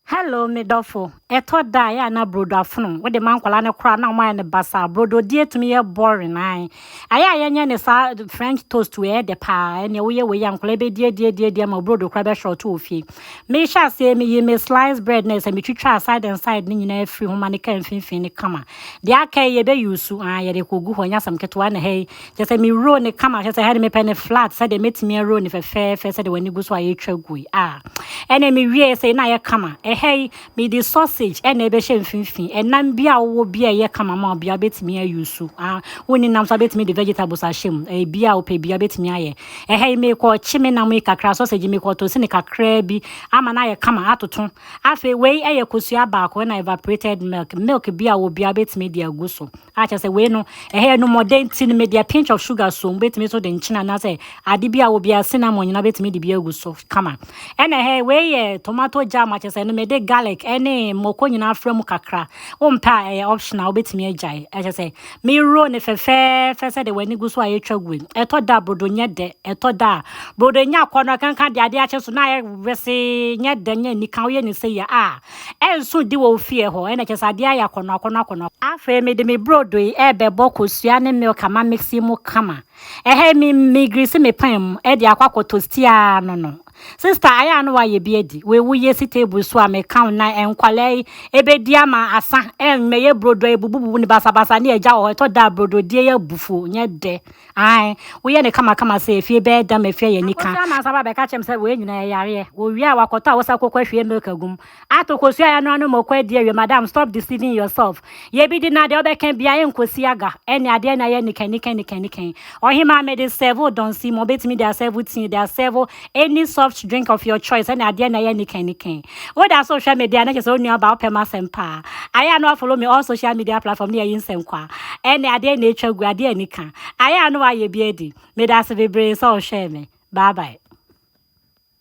Hello me dɔfo, ɛtɔ da a ɛyɛ a na brodo afono wode ma nkwadaa no koraa na wɔn ayɛ no basaa. Brodo die tumi yɛ boring ae. Ayɛ a yɛnyɛ ne saa French toast wei ɛyɛ dɛ paa. Ɛnea woyɛ wei a nkwadaa bɛdi adi adi adi ama brodo koraa bɛhwɛ ɔto wɔ fie. Mehyɛ aseɛ meyi me slice bread no sɛ metwitwa side and side no nyinaa firi ho ma ne ka mfimfini no kama. Deɛ aka yi yɛbɛyi su aa yɛde kɔgu hɔ nyɛ asɛm ketewa na ha yi Kyerɛ sɛ me roll no kama kyerɛ sɛ ɛha de mepɛ no flat sɛdeɛ mɛtumi aroll no fɛfɛɛfɛ sɛdeɛ w'ani gu so a yɛtwa gu yi a ɛne mewie sɛ na ayɛ kama ɛha yi mede sausage ɛna ɛbɛhyɛ mfimfini ɛnam bi a wowɔ bi a ɛyɛ kama ma obi a wobɛtumi ayi so a wonni nam so wobɛtumi de vegetables ahyɛ mu ɛyɛ bi a wopɛ bi a wobɛtumi ayɛ ɛha yi mekɔ kye me nam yi kakra sausage mekɔ to sini kakraa bi ama no ayɛ kama atoto afei wei ɛyɛ kosua baako ɛna evaporated milk milk bi a wɔ bi a wobɛtumi de agu so a kyerɛ sɛ wei no ɛhɛ ɛno mmɔden nti no mede a pinch of sugar so wobɛtumi nso de nkyene anaasɛ ade bi a wɔ biara cinnamon nyinaa wobɛtumi de bi agu so kama ɛna ɛhɛ wei yɛ tomato jam a kyerɛ sɛ ɛno mede garlic ɛne mmɔkɔ nyinaa afra mu kakra wompɛ a ɛyɛ optional wobɛtumi agyae ɛkyɛ sɛ mewuro ne fɛfɛɛfɛ sɛ de w'ani gu so a yɛtwa gu ɛtɔ da brodo nyɛ dɛ ɛtɔ da a brodo nya akɔ no ɛkanka de adeɛ akyɛ so na ayɛ wese nyɛ dɛ nyɛ nika woyɛ ne sɛ yɛ a ɛnso di wɔ wo fie hɔ, ɛna kyerɛ sɛ adeɛ ayɛ akɔnɔ akɔnɔ akɔnɔ. Afei mede me brodo yi ɛrebɛbɔ kosua ne milk ama mixi mu kama. Ɛha yi me me grease me pan mu ɛde akɔ akɔ tosti aa no no. Sister ayɛ a na wayɛ bi adi wei wo yɛ si table so a me ka wo nan nkwadaa yi ɛbɛdi ama asa ɛn mɛyɛ brodo a ɛbubu bubu no basa basa ne agya wɔ hɔ ɛtɔ da a brodo die yɛ abu fuo nyɛ dɛ. Ae, woyɛ no kamakama sɛ efie bɛyɛ dam efie yɛ nika. Ɔkɔsua nansa ba bɛka kyɛm sɛ wei nyinaa yɛ yareɛ. Wɔwie a wakɔtɔ a wosa kɔkɔ ahwie milk agum. Ato kosua yɛ ano ano ma ɔkɔ adi awie madam stop deceiving yourself. Yɛ bi di na deɛ wobɛka biara ɛnkɔsi aga. Ɛnneɛ adeɛ no ayɛ nikanikanikanikanikani. Ɔhemaa mede serve wo dɔnsi ma ɔbɛtumi de asɛɛvo tea de asɛɛvo any soft drink of your choice ɛna adeɛ na ɛyɛ nikan nikan woda so hwɛ me deɛ na kyɛ sɛ wo nua ba wopɛ ma asɛm paa ayɛ a na wafollow me all social media platform ne yɛyi nsɛnkwa ɛne adeɛ na ɛtwa gu adeɛ a nika ayɛ a na wayɛ bi adi meda ase bebree sɛ ɔhwɛɛ me bye bye